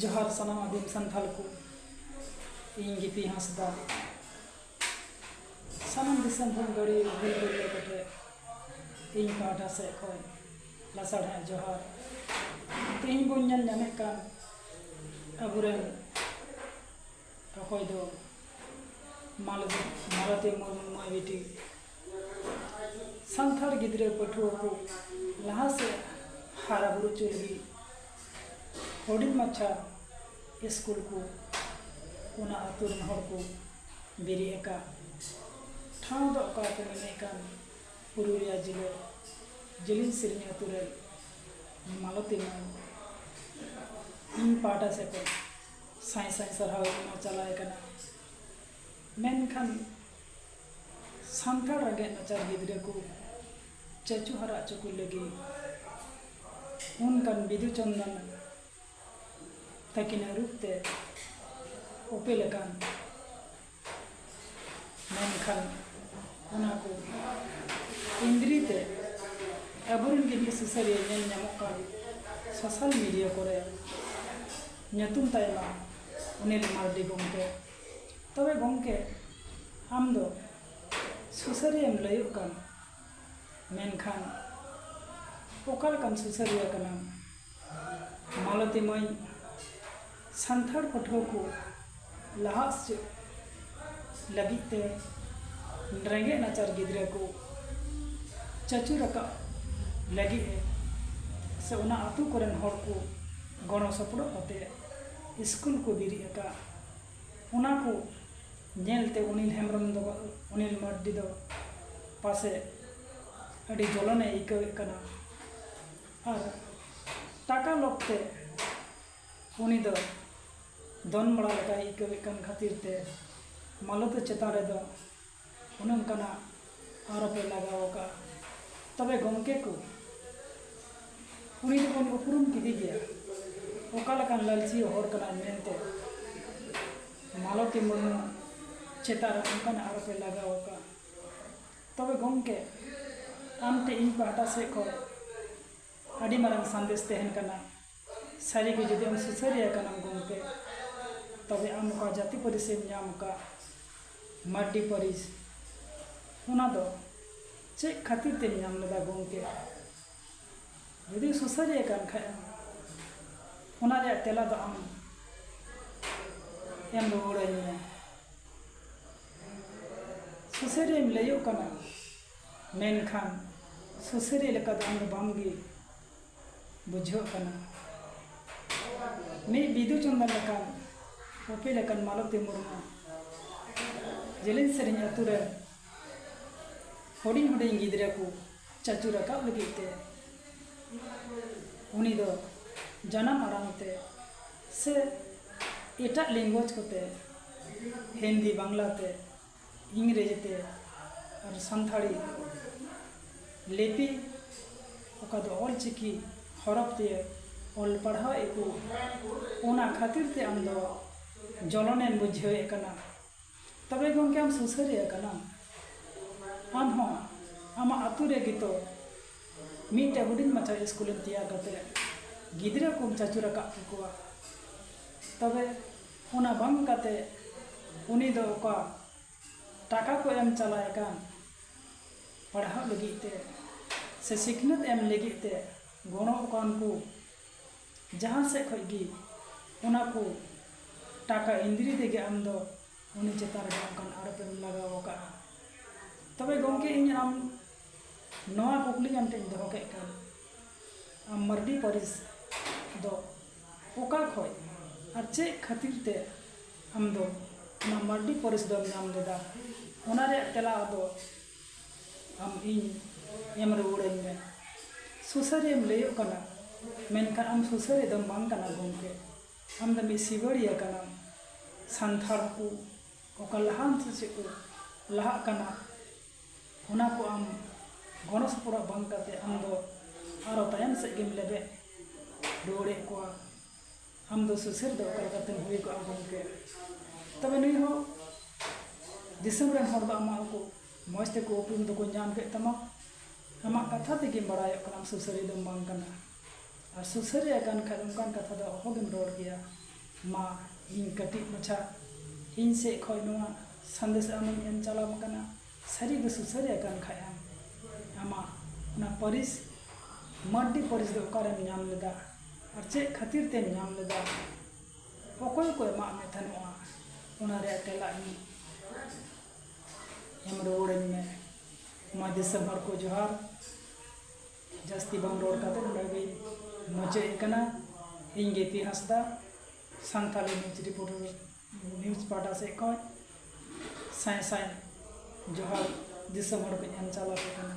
ᱡᱚᱦᱟᱨ ᱥᱟᱱᱟᱢ ᱟᱹᱫᱤᱢ ᱥᱟᱱᱛᱟᱲ ᱠᱚ ᱤᱧ ᱜᱤᱯᱤ ᱦᱟᱸᱥᱫᱟ ᱥᱟᱱᱟᱢ ᱫᱤᱥᱚᱢ ᱦᱚᱲ ᱜᱟᱹᱲᱤ ᱦᱩᱞ ᱜᱟᱹᱲᱤᱭᱟᱹ ᱠᱚᱴᱷᱮ ᱤᱧ ᱯᱟᱦᱴᱟ ᱥᱮᱫ ᱠᱷᱚᱱ ᱞᱟᱥᱟᱲᱦᱮᱸ ᱡᱚᱦᱟᱨ ᱛᱮᱦᱮᱧ ᱵᱚᱱ ᱧᱮᱞ ᱧᱟᱢᱮᱫ ᱠᱟᱱ ᱟᱵᱚᱨᱮᱱ ᱚᱠᱚᱭ ᱫᱚ ᱢᱟᱞᱚᱛᱤ ᱢᱟᱞᱚᱛᱤ ᱢᱩᱨᱢᱩ ᱢᱟᱹᱭ ᱵᱤᱴᱤ ᱥᱟᱱᱛᱟᱲ ᱜᱤᱫᱽᱨᱟᱹ ᱯᱟᱹᱴᱷᱩᱣᱟᱹ ᱠᱚ ᱞᱟᱦᱟ ᱥᱮᱫ ᱦᱟᱨᱟ ᱵᱩᱨᱩ ᱦᱚᱪᱚ ᱞᱟᱹᱜᱤᱫ ᱦᱩᱰᱤᱧ ᱢᱟᱪᱷᱟ ᱥᱠᱩᱞ ᱠᱚ ᱚᱱᱟ ᱟᱹᱛᱩ ᱨᱮᱱ ᱦᱚᱲ ᱠᱚ ᱵᱮᱨᱮᱫ ᱟᱠᱟᱫ ᱴᱷᱟᱶ ᱫᱚ ᱚᱠᱟ ᱠᱚ ᱢᱮᱱᱮᱫ ᱠᱟᱱ ᱯᱩᱨᱩᱞᱤᱭᱟᱹ ᱡᱮᱞᱟᱹ ᱡᱤᱞᱤᱧ ᱥᱤᱞᱤᱧ ᱟᱹᱛᱩ ᱨᱮ ᱢᱟᱞᱚᱛᱤ ᱢᱟᱹᱭ ᱤᱧ ᱯᱟᱦᱴᱟ ᱥᱮᱫ ᱠᱷᱚᱱ ᱥᱟᱭ ᱥᱟᱭ ᱥᱟᱨᱦᱟᱣ ᱮᱢᱟ ᱪᱟᱞᱟᱭ ᱠᱟᱱᱟ ᱢᱮᱱᱠᱷᱟᱱ ᱥᱟᱱᱛᱟᱲ ᱨᱮᱸᱜᱮᱡ ᱱᱟᱪᱟᱨ ᱜᱤᱫᱽᱨᱟᱹ ᱠᱚ ᱪᱟᱪᱳ ᱦᱟᱨᱟ ᱦᱚᱪᱚ ᱠᱚ ᱞᱟᱹᱜᱤᱫ ᱚᱱᱠᱟᱱ ᱵᱤᱫᱩ ᱪᱟᱸᱫᱟᱱ ᱛᱟᱹᱠᱤᱱᱟᱜ ᱨᱩᱯ ᱛᱮ ᱩᱯᱮᱞ ᱟᱠᱟᱱ ᱢᱮᱱᱠᱷᱟᱱ ᱚᱱᱟ ᱠᱚ ᱮᱸᱫᱽᱨᱤ ᱛᱮ ᱟᱵᱚ ᱨᱮᱱ ᱜᱮ ᱢᱤᱫ ᱥᱩᱥᱟᱹᱨᱤᱭᱟᱹ ᱧᱮᱞ ᱧᱟᱢᱚᱜ ᱠᱟᱱ ᱥᱳᱥᱟᱞ ᱢᱤᱰᱤᱭᱟ ᱠᱚᱨᱮ ᱧᱩᱛᱩᱢ ᱛᱟᱭ ᱢᱟ ᱚᱱᱤᱞ ᱢᱟᱨᱰᱤ ᱜᱚᱢᱠᱮ ᱛᱚᱵᱮ ᱜᱚᱢᱠᱮ ᱟᱢ ᱫᱚ ᱥᱩᱥᱟᱹᱨᱤᱭᱟᱹᱢ ᱞᱟᱹᱭᱚᱜ ᱠᱟᱱ ᱢᱮᱱᱠᱷᱟᱱ ᱚᱠᱟ ᱞᱮᱠᱟᱱ ᱥᱩᱥᱟᱹᱨᱤᱭᱟᱹ ᱠᱟᱱᱟᱢ ᱢᱟᱞᱚᱛᱤ ᱢᱟᱹᱭ ᱥᱟᱱᱛᱟᱲ ᱯᱟᱹᱴᱷᱩᱣᱟᱹ ᱠᱚ ᱞᱟᱦᱟᱜ ᱥᱮᱫ ᱞᱟᱹᱜᱤᱫ ᱛᱮ ᱨᱮᱸᱜᱮᱡ ᱱᱟᱪᱟᱨ ᱜᱤᱫᱽᱨᱟᱹ ᱠᱚ ᱪᱟᱪᱳ ᱨᱟᱠᱟᱵ ᱞᱟᱹᱜᱤᱫ ᱮ ᱥᱮ ᱚᱱᱟ ᱟᱛᱳ ᱠᱚᱨᱮᱱ ᱦᱚᱲ ᱠᱚ ᱜᱚᱲᱚ ᱥᱚᱯᱚᱦᱚᱫ ᱠᱟᱛᱮ ᱤᱥᱠᱩᱞ ᱠᱚ ᱵᱮᱨᱮᱫ ᱟᱠᱟᱫᱼᱟ ᱚᱱᱟ ᱠᱚ ᱧᱮᱞ ᱛᱮ ᱚᱱᱤᱞ ᱦᱮᱢᱵᱨᱚᱢ ᱫᱚ ᱚᱱᱤᱞ ᱢᱟᱨᱰᱤ ᱫᱚ ᱯᱟᱥᱮᱡ ᱟᱹᱰᱤ ᱡᱚᱞᱚᱱᱮ ᱟᱹᱭᱠᱟᱹᱣᱮᱫ ᱠᱟᱱᱟ ᱟᱨ ᱴᱟᱠᱟ ᱞᱚᱵᱽ ᱛᱮ ᱩᱱᱤ ᱫᱚ ᱫᱚᱱ ᱵᱟᱲᱟ ᱞᱮᱠᱟᱭ ᱟᱹᱭᱠᱟᱹᱣᱮᱫ ᱠᱟᱱ ᱠᱷᱟᱹᱛᱤᱨ ᱛᱮ ᱢᱟᱞᱚᱛᱤ ᱪᱮᱛᱟᱱ ᱨᱮᱫᱚ ᱚᱱᱮ ᱚᱱᱠᱟᱱᱟᱜ ᱟᱨᱳᱯᱮ ᱞᱟᱜᱟᱣ ᱟᱠᱟᱫᱼᱟ ᱛᱚᱵᱮ ᱜᱚᱢᱠᱮ ᱠᱚ ᱩᱱᱤ ᱫᱚᱵᱚᱱ ᱩᱯᱨᱩᱢ ᱠᱮᱫᱮ ᱜᱮᱭᱟ ᱚᱠᱟ ᱞᱮᱠᱟᱱ ᱞᱟᱹᱞᱪᱤᱭᱟᱹ ᱦᱚᱲ ᱠᱟᱱᱟᱭ ᱢᱮᱱᱛᱮ ᱢᱟᱞᱚᱛᱤ ᱢᱩᱨᱢᱩ ᱪᱮᱛᱟᱱ ᱨᱮ ᱚᱱᱠᱟᱱᱟᱜ ᱟᱨᱳᱯᱮ ᱞᱟᱜᱟᱣ ᱟᱠᱟᱫᱼᱟ ᱛᱚᱵᱮ ᱜᱚᱢᱠᱮ ᱟᱢ ᱴᱷᱮᱱ ᱤᱧ ᱯᱟᱦᱴᱟ ᱥᱮᱫ ᱠᱷᱚᱱ ᱟᱹᱰᱤ ᱢᱟᱨᱟᱝ ᱥᱟᱸᱫᱮᱥ ᱛᱟᱦᱮᱱ ᱠᱟᱱᱟ ᱥᱟᱹᱨᱤ ᱜᱮ ᱡᱩᱫᱤ ᱟᱢ ᱥᱩᱥᱟᱹᱨᱤᱭᱟᱹ ᱠᱟᱱᱟᱢ ᱜᱚᱢᱠᱮ ᱛᱚᱵᱮ ᱟᱢ ᱚᱠᱟ ᱡᱟᱹᱛᱤ ᱯᱟᱹᱨᱤᱥᱮᱢ ᱧᱟᱢ ᱟᱠᱟᱫ ᱢᱟᱨᱰᱤ ᱯᱟᱹᱨᱤᱥ ᱚᱱᱟ ᱫᱚ ᱪᱮᱫ ᱠᱷᱟᱹᱛᱤᱨ ᱛᱮᱢ ᱧᱟᱢ ᱞᱮᱫᱟ ᱜᱚᱢᱠᱮ ᱡᱩᱫᱤ ᱥᱩᱥᱟᱹᱨᱤᱭᱟᱹ ᱠᱟᱱ ᱠᱷᱟᱱ ᱮᱢ ᱚᱱᱟ ᱨᱮᱭᱟᱜ ᱛᱮᱞᱟ ᱫᱚ ᱟᱢ ᱮᱢ ᱨᱩᱣᱟᱹᱲᱟᱹᱧ ᱢᱮ ᱥᱩᱥᱟᱹᱨᱤᱭᱟᱹᱧ ᱞᱟᱹᱭᱚᱜ ᱠᱟᱱᱟ ᱢᱮᱱᱠᱷᱟᱱ ᱥᱩᱥᱟᱹᱨᱤᱭᱟᱹ ᱞᱮᱠᱟ ᱫᱚ ᱟᱢ ᱫᱚ ᱵᱟᱢ ᱜᱮ ᱵᱩᱡᱷᱟᱹᱜ ᱠᱟᱱᱟ ᱢᱤᱫ ᱵᱤᱫᱩ ᱪᱚᱱᱫᱚᱱ ᱞᱮᱠᱟᱱ ᱯᱚᱯᱤ ᱞᱮᱠᱟᱱ ᱢᱟᱞᱚᱛᱤ ᱢᱩᱨᱢᱩ ᱡᱮᱞᱮᱧ ᱥᱮᱨᱮᱧ ᱟᱛᱳ ᱨᱮ ᱦᱩᱰᱤᱧ ᱦᱩᱰᱤᱧ ᱜᱤᱫᱽᱨᱟᱹ ᱠᱚ ᱪᱟᱪᱳ ᱨᱟᱠᱟᱵ ᱞᱟᱹᱜᱤᱫ ᱛᱮ ᱩᱱᱤ ᱫᱚ ᱡᱟᱱᱟᱢ ᱟᱲᱟᱝ ᱛᱮ ᱥᱮ ᱮᱴᱟᱜ ᱞᱮᱝᱜᱩᱭᱮᱡᱽ ᱠᱚᱛᱮ ᱦᱤᱱᱫᱤ ᱵᱟᱝᱞᱟ ᱛᱮ ᱤᱝᱨᱮᱡᱤ ᱛᱮ ᱟᱨ ᱥᱟᱱᱛᱟᱲᱤ ᱞᱤᱯᱤ ᱚᱠᱟ ᱫᱚ ᱚᱞ ᱪᱤᱠᱤ ᱦᱚᱨᱚᱯ ᱛᱮ ᱚᱞ ᱯᱟᱲᱦᱟᱣ ᱮᱫ ᱠᱚ ᱚᱱᱟ ᱠᱷᱟᱹᱛᱤᱨ ᱛᱮ ᱟᱢ ᱫᱚ ᱡᱚᱞᱚᱱᱮᱢ ᱵᱩᱡᱷᱟᱹᱣ ᱮᱫ ᱠᱟᱱᱟ ᱛᱚᱵᱮ ᱜᱚᱢᱠᱮ ᱟᱢ ᱥᱩᱥᱟᱹᱨᱤᱭᱟᱹ ᱠᱟᱱᱟᱢ ᱟᱢ ᱦᱚᱸ ᱟᱢᱟᱜ ᱟᱛᱳ ᱨᱮᱜᱮ ᱛᱚ ᱢᱤᱫᱴᱮᱱ ᱦᱩᱰᱤᱧ ᱢᱟᱪᱷᱟ ᱤᱥᱠᱩᱞ ᱮᱢ ᱛᱮᱭᱟᱨ ᱠᱟᱛᱮ ᱜᱤᱫᱽᱨᱟᱹ ᱠᱚᱢ ᱪᱟᱪᱚ ᱨᱟᱠᱟᱵ ᱠᱮᱠᱚᱣᱟ ᱛᱚᱵᱮ ᱚᱱᱟ ᱵᱟᱝ ᱠᱟᱛᱮ ᱩᱱᱤ ᱫᱚ ᱚᱠᱟ ᱴᱟᱠᱟ ᱠᱚ ᱮᱢ ᱪᱟᱞᱟᱭ ᱠᱟᱱ ᱯᱟᱲᱦᱟᱜ ᱞᱟᱹᱜᱤᱫ ᱛᱮ ᱥᱮ ᱥᱤᱠᱷᱱᱟᱹᱛ ᱮᱢ ᱞᱟᱹᱜᱤᱫ ᱛᱮ ᱜᱚᱲᱚ ᱠᱟᱱ ᱠᱚ ᱡᱟᱦᱟᱸ ᱥᱮᱫ ᱠᱷᱚᱡ ᱜᱮ ᱚᱱᱟ ᱠᱚ ᱴᱟᱠᱟ ᱮᱱᱫᱨᱤ ᱛᱮᱜᱮ ᱟᱢ ᱫᱚ ᱩᱱᱤ ᱪᱮᱛᱟᱱ ᱨᱮ ᱚᱱᱠᱟᱱ ᱟᱨᱚᱯ ᱮᱢ ᱞᱟᱜᱟᱣ ᱠᱟᱜᱼᱟ ᱛᱚᱵᱮ ᱜᱚᱢᱠᱮ ᱤᱧ ᱟᱢ ᱱᱚᱣᱟ ᱠᱩᱠᱞᱤ ᱟᱢ ᱴᱷᱮᱱ ᱤᱧ ᱫᱚᱦᱚ ᱠᱮᱫ ᱠᱷᱟᱱ ᱟᱢ ᱢᱟᱨᱰᱤ ᱯᱟᱹᱨᱤᱥ ᱫᱚ ᱚᱠᱟ ᱠᱷᱚᱱ ᱟᱨ ᱪᱮᱫ ᱠᱷᱟᱹᱛᱤᱨ ᱛᱮ ᱟᱢ ᱫᱚ ᱚᱱᱟ ᱢᱟᱨᱰᱤ ᱯᱟᱹᱨᱤᱥ ᱫᱚᱢ ᱧᱟᱢ ᱞᱮᱫᱟ ᱚᱱᱟ ᱨᱮᱭᱟᱜ ᱛᱮᱞᱟ ᱟᱫᱚ ᱟᱢ ᱤᱧ ᱮᱢ ᱨᱩᱣᱟᱹᱲ ᱟᱹᱧ ᱢᱮ ᱥᱩᱥᱟᱹᱨᱤᱭᱟᱹᱢ ᱞᱟᱹᱭᱚᱜ ᱠᱟᱱᱟ ᱢᱮᱱᱠᱷᱟᱱ ᱟᱢ ᱥᱩᱥᱟᱹᱨᱤᱭᱟᱹ ᱫᱚ ᱵᱟᱝ ᱠᱟᱱᱟᱢ ᱜᱚᱢᱠᱮ ᱟᱢ ᱫᱚ ᱢᱤᱫ ᱥᱤᱵᱟᱹᱲᱤᱭᱟᱹ ᱠᱟᱱᱟᱢ ᱥᱟᱱᱛᱟᱲ ᱠᱚ ᱚᱠᱟ ᱞᱟᱦᱟᱱᱛᱤ ᱥᱮᱫ ᱠᱚ ᱞᱟᱦᱟᱜ ᱠᱟᱱᱟ ᱚᱱᱟ ᱠᱚ ᱟᱢ ᱜᱚᱲᱚ ᱥᱚᱯᱚᱦᱚᱫ ᱵᱟᱝ ᱠᱟᱛᱮᱫ ᱟᱢ ᱫᱚ ᱟᱨᱚ ᱛᱟᱭᱚᱢ ᱥᱮᱫ ᱜᱮᱢ ᱞᱮᱵᱮᱫ ᱨᱩᱣᱟᱹᱲᱮᱫ ᱠᱚᱣᱟ ᱟᱢ ᱫᱚ ᱥᱩᱥᱟᱹᱨ ᱫᱚ ᱚᱠᱟ ᱞᱮᱠᱟᱛᱮᱢ ᱦᱩᱭ ᱠᱚᱜᱼᱟ ᱜᱚᱢᱠᱮ ᱛᱚᱵᱮ ᱱᱩᱭ ᱦᱚᱸ ᱫᱤᱥᱚᱢ ᱨᱮᱱ ᱦᱚᱲ ᱫᱚ ᱟᱢᱟᱜ ᱦᱚᱸᱠᱚ ᱢᱚᱡᱽ ᱛᱮᱠᱚ ᱩᱯᱨᱩᱢ ᱫᱚᱠᱚ ᱧᱟᱢ ᱠᱮᱫ ᱛᱟᱢᱟ ᱟᱢᱟᱜ ᱠᱟᱛᱷᱟ ᱛᱮᱜᱮ ᱵᱟᱲᱟᱭᱚᱜ ᱠᱟᱱᱟ ᱥᱩᱥᱟᱹᱨᱤᱭᱟᱹ ᱫᱚᱢ ᱵᱟᱝ ᱠᱟᱱᱟ ᱟᱨ ᱥᱩᱥᱟᱹᱨᱤᱭᱟᱹ ᱠᱟᱱ ᱠᱷᱟᱱ ᱚᱱᱠᱟᱱ ᱠᱟᱛᱷᱟ ᱫᱚ ᱚᱦᱚ ᱜᱮᱢ ᱨᱚᱲ ᱠᱮᱭᱟ ᱢᱟ ᱤᱧ ᱠᱟᱹᱴᱤᱡ ᱢᱟᱪᱷᱟ ᱤᱧ ᱥᱮᱫ ᱠᱷᱚᱱ ᱱᱚᱣᱟ ᱥᱟᱸᱫᱮᱥ ᱟᱢᱤᱧ ᱮᱢ ᱪᱟᱞᱟᱢ ᱟᱠᱟᱱᱟ ᱥᱟᱹᱨᱤ ᱜᱮ ᱥᱩᱥᱟᱹᱨᱤᱭᱟᱹ ᱠᱟᱱ ᱠᱷᱟᱱ ᱮᱢ ᱟᱢᱟᱜ ᱚᱱᱟ ᱯᱟᱹᱨᱤᱥ ᱢᱟᱹᱨᱰᱤ ᱯᱟᱹᱨᱤᱥ ᱫᱚ ᱚᱠᱟ ᱨᱮᱢ ᱧᱟᱢ ᱞᱮᱫᱟ ᱟᱨ ᱪᱮᱫ ᱠᱷᱟᱹᱛᱤᱨ ᱛᱮᱢ ᱧᱟᱢ ᱞᱮᱫᱟ ᱚᱠᱚᱭ ᱠᱚ ᱮᱢᱟᱜ ᱢᱮ ᱛᱟᱦᱮᱱᱚᱜᱼᱟ ᱚᱱᱟ ᱨᱮᱭᱟᱜ ᱛᱮᱞᱟ ᱤᱧ ᱮᱢ ᱨᱩᱣᱟᱹᱲᱟᱹᱧ ᱢᱮ ᱢᱟ ᱫᱤᱥᱚᱢ ᱦᱚᱲ ᱠᱚ ᱡᱚᱦᱟᱨ ᱡᱟᱹᱥᱛᱤ ᱵᱟᱝ ᱨᱚᱲ ᱠᱟᱛᱮ ᱱᱚᱰᱮ ᱜᱮᱧ ᱢᱩᱪᱟᱹᱫ ᱮᱫ ᱠᱟᱱᱟ ᱤᱧ ᱜᱮᱯᱤ ᱦᱟᱸᱥᱫᱟ ᱥᱟᱱᱛᱟᱲᱤ ᱱᱤᱭᱩᱡᱽ ᱨᱤᱯᱳᱴᱟᱨ ᱱᱤᱭᱩᱡᱽ ᱯᱟᱦᱴᱟ ᱥᱮᱫ ᱠᱷᱚᱱ ᱥᱟᱭ ᱥᱟᱭ ᱡᱚᱦᱟᱨ ᱫᱤᱥᱚᱢ ᱦᱚᱲ ᱠᱚᱧ ᱮᱢ ᱪᱟᱞ ᱟᱯᱮ ᱠᱟᱱᱟ